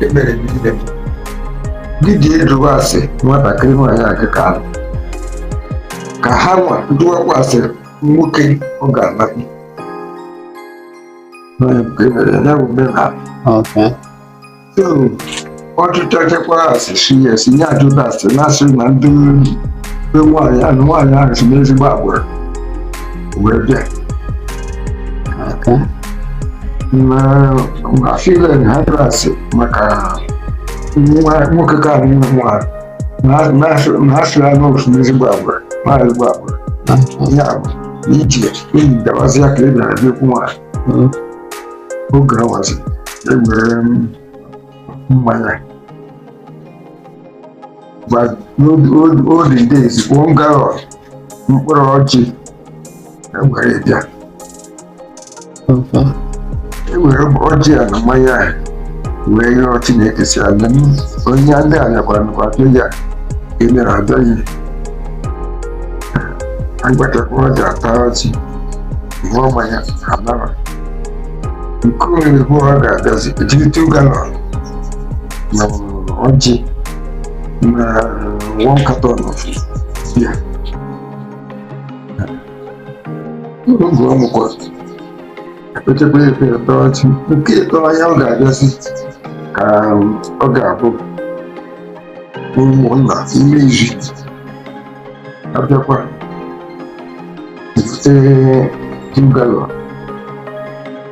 ekpere bidide didie jụwa ase nwatakịrị nwaanyị aga ka alụ ka ha nwa jụwakwa ase nwoke ọ ga-alakwu Onye nke mere ya bụ omenala Okay. so a jụchakwa ase si ya si nye ajụta ase na-asị na ndị be nwaanyị ahụ nwaanyị ahụ si n'ezigbo agbụrụ wee bịa afile na ha jụrụ ase maka nwoke ka anyị nwa na-asị ya na o si n'ezigbo agwa na ezigbo agwa ya bụ iji enyi dabazi ya ka ị na-abịa okwu nwaanyị oge awazi ewere mmanya olden days ofu galọn mkpụrụ ọjị ewere bịa ewere ọjị a na mmanya a wee yọọ chineke si abịa onye ndị a nyakwara nakwa abịa ya emere abịaghị agbatakwa ọjị ata ọjị ṅụọ mmanya a naa nke ịbụọ ọ ga-abịazi e jiri two galọn na ọjị na one carton of beer oge ọ mụkwa ekpechekwa efe efe ụbọchị nke ịtọ ya ọ ga-abịazi ka ọ ga-abụ ụmụnna emezie abịakwa ebute two gallon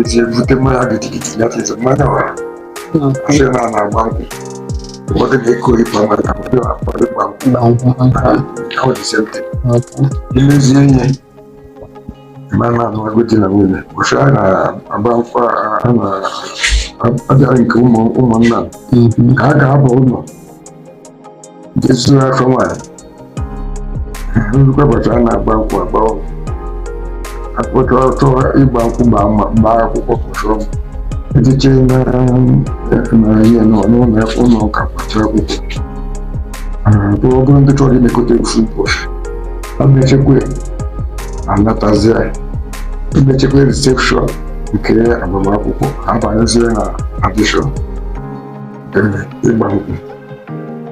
eji ebute mmanya gidigidi ya tete mmanya wa sị na a na-agba nkwụ ụfọdụ na-akpọ ịpa mmanya ka ụfọdụ na-akpọ ịgba nkwụ na nkwụ ha ọ dị same thing emezie ma na a nụgo di na nwunye ụbọchị a na-agba nkwụ a na-abịara nke ụmụnna ka a ga-aba ụlọ jezuo afọ nwaanyị nzukọ ụbọchị a na-agba nkwụ agba akpọchọrọ chọọ ịgba nkwụ gbaa akwụkwọ pụtụrụ m echiche na ihe n'ụlọ ụlọ ụka kpọchie akwụkwọ bụ ọ bụrụ ndị chọrọ imekọta ofu ụbọchị emechakwa anatazie emechakwa reception nke agbamakwụkwọ abanyezie na tradition ịgba nkwụ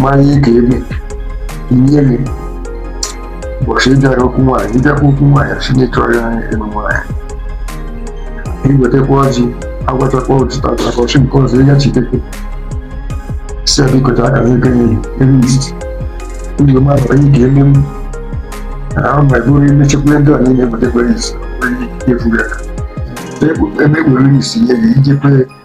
ma ihe ka ebe nye gị ụbọchị ịbịara okwu nwaanyị ịbịakwa okwu nwaanyị si na ịchọrọ ya ịnụ nwaanyị iwetakwa ọjị agwachakwa otụta ụbọchị nke ọzọ ịga chitekwe si ya biko taa akara ego nye ebe ndidi ndị ọma bụ onye ka eme m ahụ ma bụrụ emechekwa ndị a niile ewetakwa isi efughị aka emekpere isi nye gị ijekwe